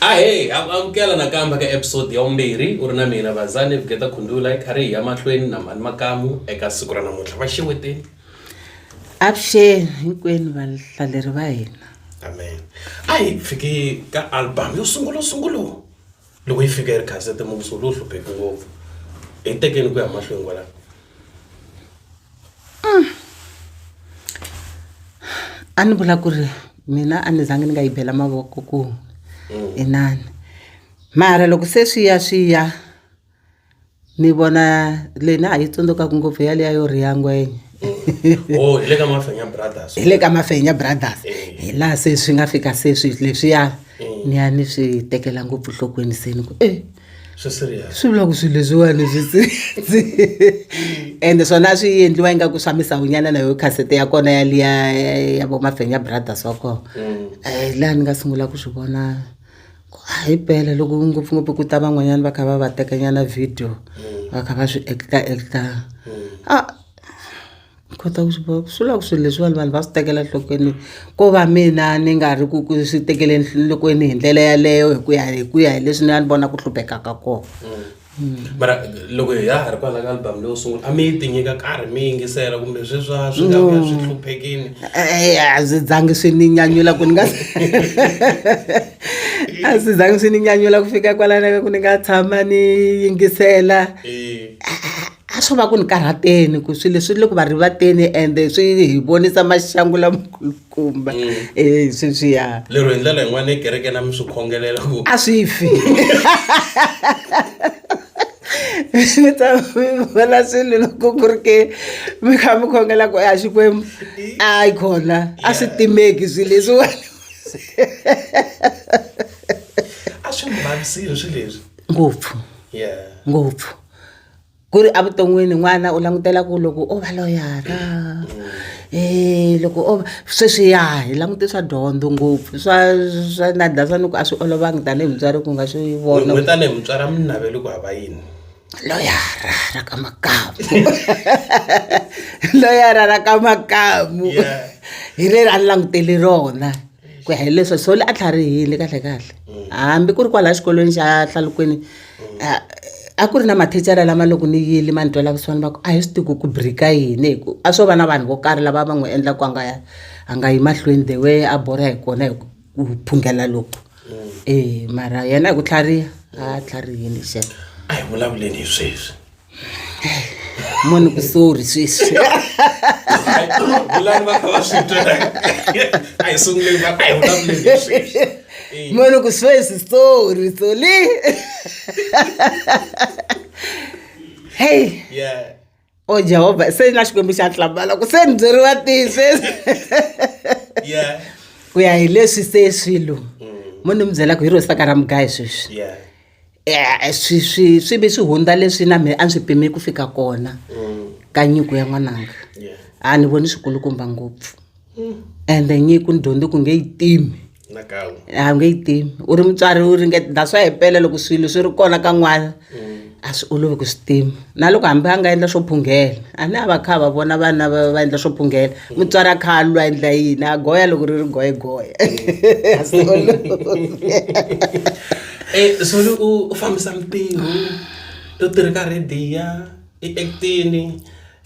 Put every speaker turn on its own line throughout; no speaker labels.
ahey amukela nakambe ka episode ya vumbirhi u ri na mina vazane vugeta khundula hi karhi hi ya mahlweni na mhani makamu eka siku ra namuntlha va xeweteni
avuxeni hinkwenu vahlaleri va hina amen
a hi fiki ka album yo sungula sungula loko yi fika yi ri khansete muvuso lowu hlupheki ngopfu hi tekeni ku ya mahlweni kwalaho mm.
a ni vula ku ri mina a ni zange ni nga yi bela mavoko ku mm. inani mara loko se swi ya swi ya ni vona leyi na ha yi tsundzukaka ngopfu ya liya yo riya ngwenya oh
hi le ka mafenya brothers hi le ka mafenya
brothers eh. hi laha se swi nga fika se swi leswiya eh. ni ya ni swi tekela ngopfu nhlokweni se ni ku e
swi vula ku swilo leswiwani
swi ende swona swi endliwa ingaku swa misawunyana na yo khasete ya kona ya liya ya vo mafenya brothers wa kona um mm. eh, laha ni nga sungula ku swi vona hi bela loko ngopfungopfu ku ta van'wanyana va kha va va tekanyana video va kha va swi ekita ekita a kota ku swi vona swi lava swilo leswiwani vanhu va swi tekela enhlokweni ko va mina ni nga ri ku ku swi tekele enhlokweni hi ndlela yaleyo hi ku ya hi ku ya hi leswi ni a ni vona ku hluphekaka kona. mara
loko hi ya ha ri kwala ka album leyo sungula a mi yi tinyika karhi mi yingisela kumbe sweswa swi nga vuya swi hluphekini Eh, a swi
zangi swi ni nyanyula ku ni nga a swi zangi swi ni nyanyula ku fika kwalana ka ku ni nga tshama ni yingisela Eh, a swo va ku ni karhateni ku swilo leswi le ku va rivateni ende swi hi vonisa maxangu lamakulu kumba eh sweswi ya lero hi ndlela yin'wana
ekereke na mi swi khongelela ku a swi fi
ni ta mi vona swilo loko ku ri ke mi kha mi khongela ku ya xikwembu a yi khona a swi timeki swilo leswiwani
a swi mi vavisile swilo leswi ngopfu
yeah ngopfu ku ri evuton'wini n'wana u langutela ku loko o va loyara um loko o va sweswi ya hi langute swa dyondzo ngopfu swa swa na dasani ku a swi olovanga tanihi mutswari ku nga swi vona n'we tanihi mutswari a mi
naveli ku hava yini loyara
ra ka makamu loyara ra ka makamu hi leri a ni langutele rona ku ya hileswo so le a tlharihile kahlekahle hambi ku ri kwalaya xikolweni xa hlalukweni a ku ri na mathicara lama loko ni yile ma ni twela kusuhani va ku a hi swi tiku ku break-a yini hi ku a swo va na vanhu vo karhi lava va n'wi endla ku a nga a nga yi mahlweni the way a borha hi kona hi ku phungela loko e mara yena hi ku tlhariha a tlharihile xana a hi vulavuleni
hi sweswi
mani ku sorry sweswi vulani va
kha va swi twa a hi sunguleni va a hi vulavuleni hi
sweswi Eh, mani ku sweswi sorry soli hey yeah o jehovha se na xikwembu xa tlambala ku se ni byeriwa tihi sweswi yeah ku ya hi leswi se swilo mo ni mi byela ku hi rosaka ra mugayi sweswi yeah e-e swi swi swi vi swi hundza leswi na mina a ni swi pime ku fika kona ka nyiko ya n'wananga a ni voni swikulukumba ngopfu ende nyiko ni dyondze ku nge yi timi a wu nge yi timi u ri mutswari u ringeta that's why himpela loko swilo swi ri kona ka n'wana a swi olovi ku swi tima. na loko hambi a nga endla swo phunghela a ni a va kha va vona vana va va endla swo phunghela mutswari a kha a lwa endla yini a goya loko ri ri goyegoya eh,
soli u fambisa mitirho u tirhi ka rediya i actini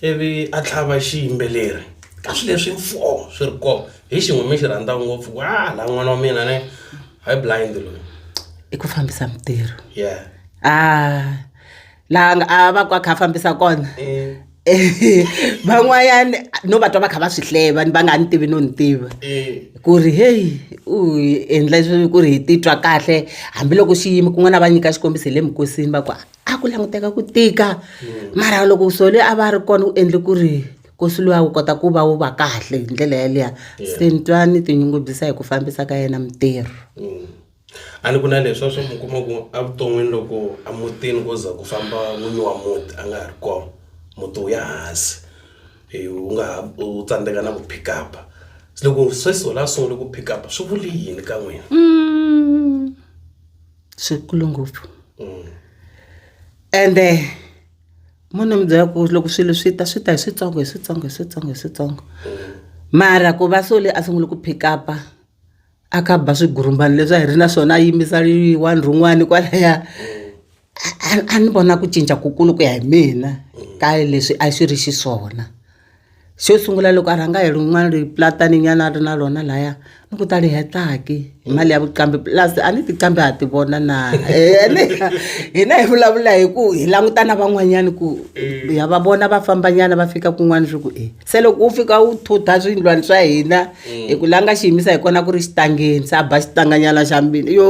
ivi a tlhava xiyimbeleri ka swi leswi mfo swi ri kona hi xin'we mi xi rhandza ngopfu wa laha n'wana wa mina ne hi blind loyi i ku fambisa
mitirho yeah ah laha nga- a va ku a kha a fambisa kona van'wanyani no va twa va kha va swi hleva ni va nga ni tivi no ni tiva ku ri heyi u hi endla swi ku ri hi titwa kahle hambiloko xiyimo kun'wana a va nyika xikombiso hi le minkosini va ku a ku languteka ku tika mara loko sole a va ri kona u endle ku ri nkosi luwa wu kota ku va wu va kahle hi ndlela yaliya se ni twa ni tinyungubyisa hi ku fambisa ka yena mitirho
a ni ku na leswi a swo mi kuma ku evuton'wini loko emutini ko za ku famba n'wini wa muti a nga ha ri kona muti wu ya hansi wu nga ha u tsandzeka na ku pick up se loko sweswi wena a sungule ku pick up swi vuli yini ka n'wina
swikulu ngopfu ende mo ni mi byela ku loko swilo swi ta swi ta hi switsongo hi switsongo hi switsongo hi switsongo mara ku va sole a sungule ku pick up-a. a ka ba swigurumbani leswi a hi ri na swona a yimbisa one rin'wani kwalaya a ni vona ku cinca ku kulu ku ya hi mina ka leswi a swi ri xiswona xo sungula loko a rhanga hi rin'wana ri platani nyana a ri na rona laya ni ku ta ri hetaki hi mali ya vuqambi plus a ni tiqambi ha ti vona na ene hina hi vulavula hi ku hi languta na van'wanyana ku ya va vona va fambanyana va fika kun'wana swi ku e se loko wu fika wu thutha swindlwani swa hina mm. hi ku la nga xi yimisa hi kona ku ri xitangeni se a ba xitanganyana xa mbini yo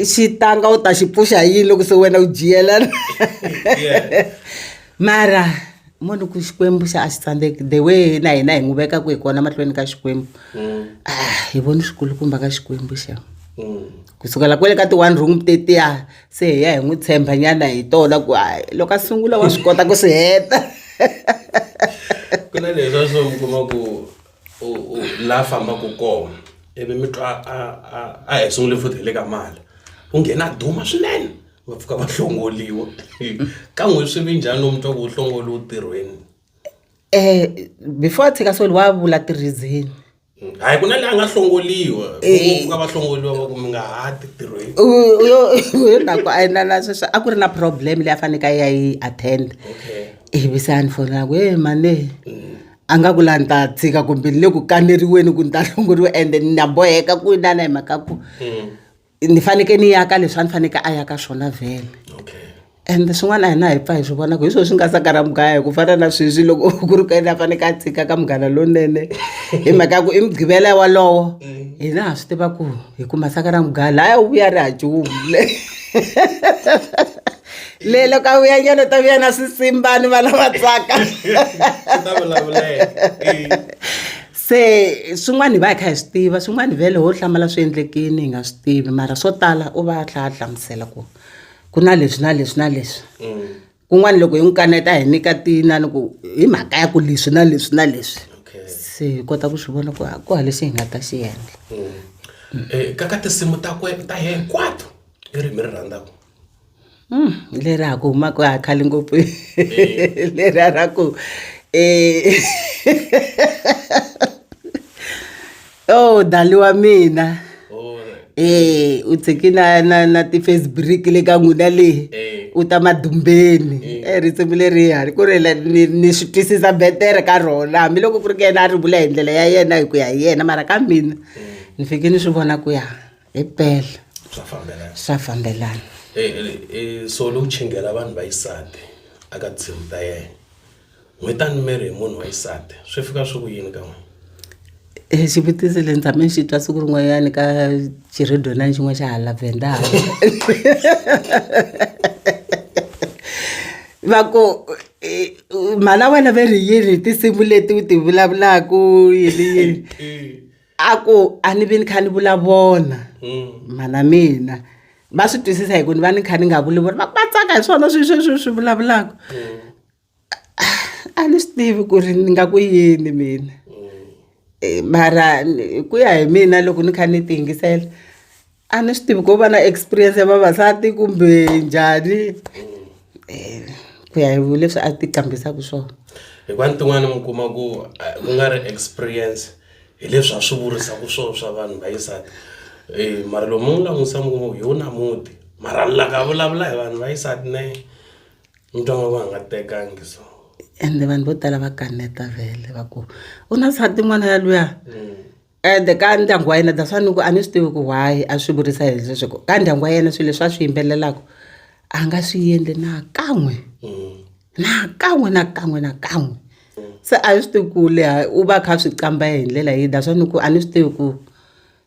xitanga u ta xi pfuxa hi yini loko se wena u jiyelana mara munhu ku xikwembu xa a xi tsandzeki the way na hina hi n'wi vekaka hi kona mahlweni ka xikwembu mm. ah, hi voni swikulukumba ka xikwembu xa mm. ku sukela kwele ka ti-one room tetiya se hi ya hi n'wi tshemba nyana hi tola ku hayi loko a sungula wa swi kota ku swi heta
ku na leswa swo mi kuma ku la fambaka kona ivi mi twa a hi sungule futhi hi le ka mali ku nghena duma swinene va pfuka va hlongoliwa ka n'wi swi vi njhani lomu twa ku hlongoliwa ntirhweni Eh
before a tshika so wa vula ti-reason. Hayi ku na
la nga hlongoriwa ku nga va hlongoriwa va ku mi nga ha ti tirhweni. Hi
mhaka ku a yi na na sweswi a ku ri na problem leyi a fanekele a ya yi attend ivi se a ni fonela ku he mhani a nga ku la ni ta tshika kumbe ni le ku kaneriweni ku ni ta hlongoriwa ende na boheka ku inana hi mhaka ku. ni fanekele ni ya ka leswi a ni fanekele a ya ka swona vhele and swin'wana a hi na hi pfa hi swi vona ku hi swona swi nga saka ra mugaya hi ku fana na sweswi loko ku ri ka yena a fanekele a tshika ka munghana lowunene hi mhaka ya ku i mugqivela ya walowo hina ha swi tiva ku hi kuma saka ra mugaya laya u vuya ri hajumu le le loko a vuya nyana ta vuya na swisimbani vana va tsaka Se swin'wana hi va hi kha hi swi tiva swin'wana vhele ho hlamala swi endlekini hi nga swi tivi mara swo tala u va a tlha a hlamusela ku ku na leswi na leswi na leswi kun'wana loko hi n'wi kaneta hi nyika tinani ku hi mhaka ya ku leswi na leswi na leswi Okay. se hi kota ku swi vona ku ha- ku ha lexi hi nga ta xi endla Eh, ka ka tinsimu ta
kwe ta hinkwato i ri mi ri rhandzaka Hmm,
leri a ku huma ku a khale ngopfu leri a ra ku eh oh dali wa mina eh u tshiki na na na ti-facebook le ka n'wina leyi u ta madumbeni e risimu leriya ni ku ri le- ni ni swi twisisa betere ka rona hambiloko ku ri ka yena a ri vula hi ndlela ya yena hi ku ya hi yena mara ka mina ni fike ni swi vona ku ya. hi pele swa fambelana swa fambelana e, e, e,
so lowu chingela vanhu vayisati aka tinsimu ta yena n'wi tani miri hi munhu wa yisati swi fika swi ku yini ka n'wina e
xivutiso le ni tshame ni xi twa siku rin'wanyani ka xiredonani xin'wana xa hala vendala va ku e, mhana wena ve ri yini hi tinsimu leti u ti vulavulaku yini yini a ku a ni vi ni kha ni vulavona mhana mina va swi twisisa hi ku ni va ni kha ni nga vulavula va va tsaka hi swona swi swi swi swi vulavulaka a ni swi tivi ku ri ni nga ku yini mina Eh, mara ni- ku ya hi mina loko ni kha ni ti yingisela a ni swi tivi ko va na experience ya vavasati kumbe njhani um ku ya hi leswi a ti qambisaka swona hikuva ni tin'wana
mi kuma ku ku nga ri experience hi leswi a swi vurisaka swona swa vanhu va yisati um eh, mara loko mi n'wi langutisa mi kuma ku hi wu na muti mara laka vulavula hi vanhu va yisati ne mi twa nga ku a nga tekangi so ende vanhu vo
tala va kaneta vele va ku u na sati n'wana ya luya mm. ende ka ndyangu wa yena that's why ni ku a ni swi tivi ku why a swi vurisa hi leswi ku ka ndyangu wa yena swilo leswi a swi yimbelelaka a nga swi endli na kan'we na kan'we na kan'we na kan'we se a ni swi tivi ku leha u va a kha a swi kamba hi ndlela yihi that's why ni ku a ni swi tivi ku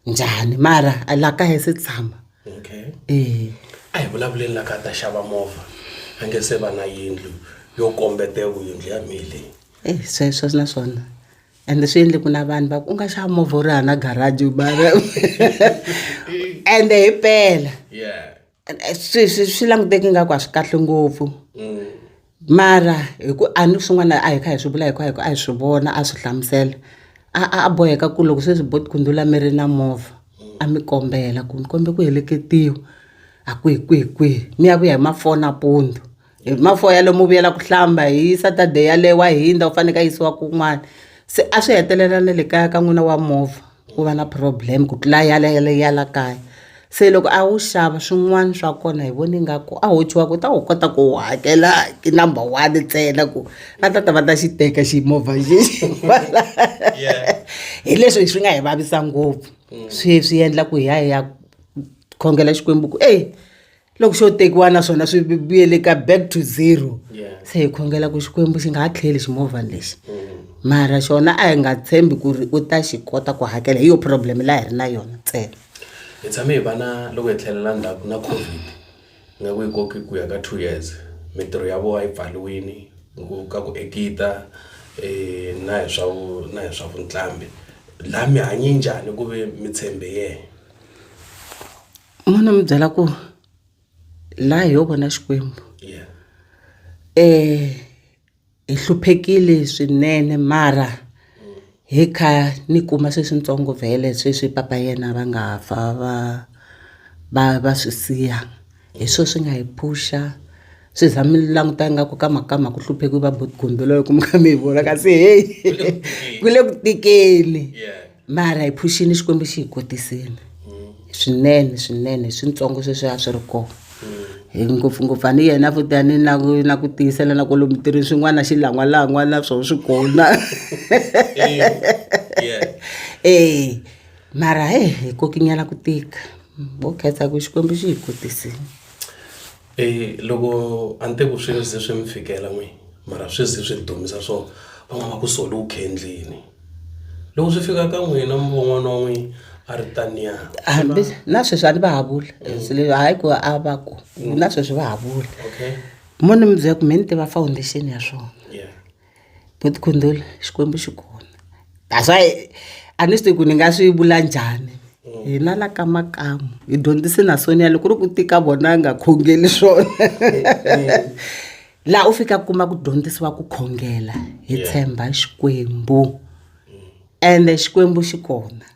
njhani mara a la kaya se tshama okay
eya a hi vulavuleni la ka ta xava movha a nge se va na yindlu yo kombete yindlu ya mina leyi eyi
sweswo na swona ende swi endle ku na vanhu va ku u nga xava movha u ri hana garaji bara ende hi pela swi swi swi languteki nga ku a swi kahle ngopfu mm. mara hi ku a ni swin'wana a hi kha hi swi vula hi ku hi ku a hi swi vona a swi hlamusela a a boheka ku loko sweswi bot kundzula mi ri na movha a mi kombela ku mi kombe ku heleketiwa a kwihi kwihi kwihi mi ya ku ya hi mafoni a pundu Hi mafoya ya lomu vuyela ku hlamba hi Saturday yaleyo wa hindza u faneke a yisiwa kun'wana se a swi hetelela na le kaya ka n'wina wa movha ku va na problem ku tlula ya le le ya la kaya se loko a wu xava swin'wana swa kona hi vone ingaku a ho tshuka ku ta wu kota ku wu hakela hi number one ntsena ku va ta ta va ta xi teka xi movha xexi hi leswi swi nga hi vavisa ngopfu swi swi endla ku hi ya hi ya khongela Xikwembu ku ey. loko xo tekiwa naswona swi vuyele ka back to zero se hi khongela ku xikwembu xi nga ha tlheli ximovhani lexi mm. mara xona a hi nga tshembi ku ri u ta xi kota ku hakela hi yo problem laha hi ri na yona ntsena hi tshame hi
vana loko hi tlhelela ndzhaku na covid nga ku yi koki ku ya ka two years mintirho ya vona yi pfaliwini ka ku ekita um na hi swa na hi swa vuntlambi laha mi hanye njhani ku ve mi tshembe yena
N'wana mi byela ku la hi yo vona Xikwembu hi hluphekile swinene mara hi kha ni kuma sweswitsongo vhele sweswi papa yena va nga fa va va va swi siya hi swo swi nga hi phusha swi za mi languta ingaku ka mhaka ka mhaka ku hluphekiwe va buti gombiloyi ku mi kha mi hi vona kasi heyi ku le ku tikeni. mara hi phuxini xikwembu xi hi kotisini swinene swinene hi swintsongo sweswi a swi ri kona hi ngopfungopfu a ni yena futani na ku na ku tiyisela na kwalomu tirhini swin'wana xi langwalangwa na swona swi kona e mara he hi kokinyana ku tika wo khetsa ku xikwembu xi hi kotisini E loko
a ni te ku swi ze swi mi fikela n'wini mara swi ze swi ni dumisa swo va n'wi va ku Soli u khe endlini loko swi fika ka n'wina mi vo n'wana wa n'wina a ri taniya hambi na
sweswi a ni va ha vula se le hayi ku a va ku na sweswi va ha vula okay mo ni mi byela ku me ni tiva foundation ya swona yeah. Bo tikhondolo Xikwembu xi kona that's why a ni swi tivi ku ni nga swi vula njhani hina la ka makamu hi dyondzise na Sonia loko ku ri ku tika vona a nga khongeli swona laha u fika kuma ku dyondzisiwa ku khongela hi tshemba Xikwembu ende Xikwembu xi kona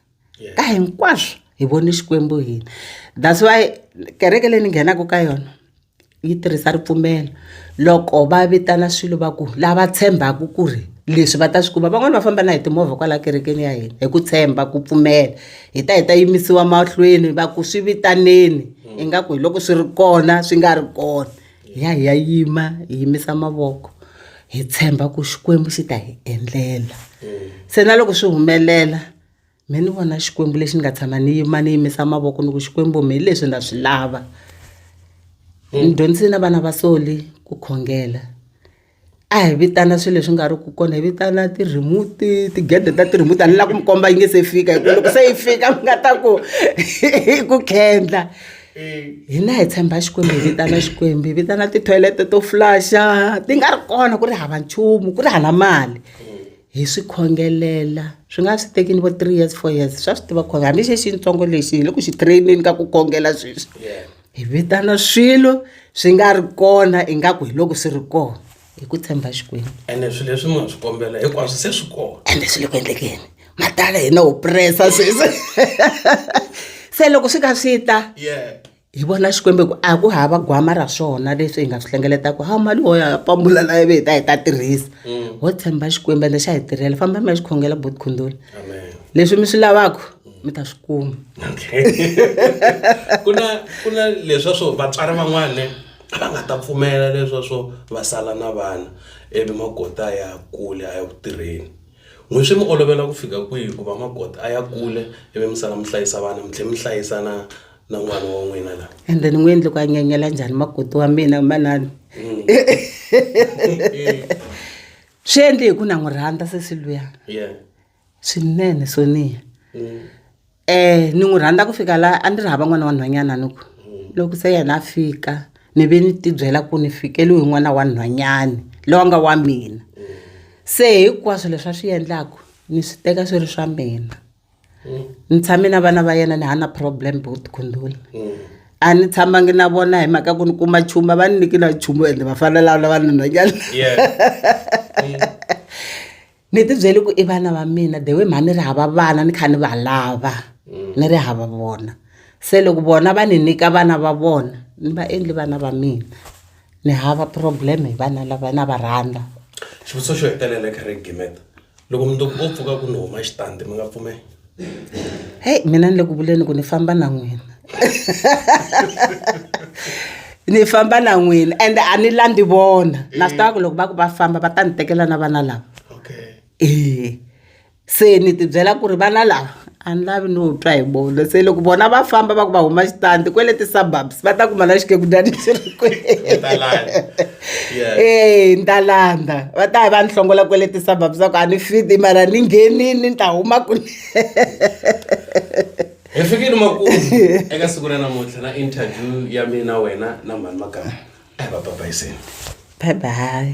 ka hinkwaswo hi vone Xikwembu hina that's why kereke leyi ni nghenaka ka yona. yi tirhisa ripfumelo loko va vitana swilo va ku lava tshembaka ku ri leswi va ta swi kuma van'wani va famba na hi timovha kwala kerekeni ya hina hi ku tshemba ku pfumela hi ta hi ta yimisiwa mahlweni va ku swi vitaneni ingaku hi loko swi ri kona swi nga ri kona hi ya hi ya yima hi yimisa mavoko hi tshemba ku Xikwembu xi ta hi endlela se na loko swi humelela. me ni vona xikwembu lexi ni nga tshama ni yima ni yimisa mavoko ni ku xikwembu mi hi leswi na swi lava ni mm. dyondzisile na vana va soli ku khongela a hi vitana swilo leswi nga ri ku kona hi vitana ti-remote tigede ta ti-remote a ni la ku mi komba yi nge se fika hi ku loko se yi fika mi nga ta ku hi ku khendla hina hi tshemba xikwembu hi vitana xikwembu hi vitana ti-toilet to flasha ti nga ri kona ku ri hava nchumu ku ri hana mali hi swi khongelela swi nga swi tekini vo three years four years swa swi tiva khongela hambi xi xintsongo lexi hi le ku xi traineni ka ku khongela sweswi hi vitana swilo swi nga ri kona ingaku hi loko swi ri kona hi ku tshemba xikwembu ene swilo leswi mi nga
swi kombela hinkwaswo se swi kona ende swi le ku endlekeni
matala hina ho pressa sweswi se loko swi ka swi ta hi vona xikwembu ku a ku hava gwama ra swona leswi hi nga swi hlengeletaka ha mali wo ya pambula la ivi hi ta hi ta tirhisa mm. ho tshemba xikwembu ende xa hi tirhela famba mi ya xikhongela bot khundula leswi mi swi lavaka mi ta swi kuma ku
na ku na leswa swo vatswari van'wana a va nga ta pfumela leswa swo va sala na vana ivi magota ya kule a ya ku tirheni n'wi swi mi olovela ku fika kwihi ku va magota a ya kule ivi mi sala mi hlayisa vana mi tlhela mi hlayisa na na n'wana wa n'wina la ende ni n'wi endli ku a
nyenyela njhani makoti wa mina manani mm. swi endli hi ku na n'wi rhandza sesi luya swinene sonia um mm. eh, ni n'wi rhandza ku fika laha a ndzi ri hava n'wana wa nhwanyana ni ku mm. loko se yena a fika ni ve ni tibyela ku ni fikeliwe hi n'wana wa nhwanyani lowa nga wa mina se hinkwaswo leswi a swi endlaku ni swi teka swi ri swa mina ni tshame na vana va yena ni ha na problem both khundula a ni tshamangi na vona hi mhaka ku ni kuma chumu a va ni nyiki na chumu ende va fanelaa na vanhunhwanyana ni ti byele ku i vana va mina the way mha ni ri hava vana ni kha ni va lava ni ri hava vona se loko vona va ni nyika vana va vona ni va endli vana va mina ni hava problem hi vana lava na va rhandza xivutiso xo
hetelela eka regiment loko mundzuku o pfuka ku ni huma xitandi mi nga pfumeli
heyi mina ni le ku vuleni ku ni famba na n'wina ni famba na n'wina ende a ni landzi vona na swi tiva ku loko va ku va famba va ta ni tekela na vana lava okay ee se ni tibyela ku ri vana lava a ni lavi no twa hi vona se loko vona va famba va ku va huma xitandi kwele ti-suburbs va ta kuma na xikekunjani xi ri ee ni ta landza va ta va ni hlongola kwele ti-suburbs va ku a ni fiti mara ni nghenini ni ta huma kule
hi fikile makulu eka siku ra namuntlha na interview ya mina wena na mhani magama a hi va babayiseni bye
bye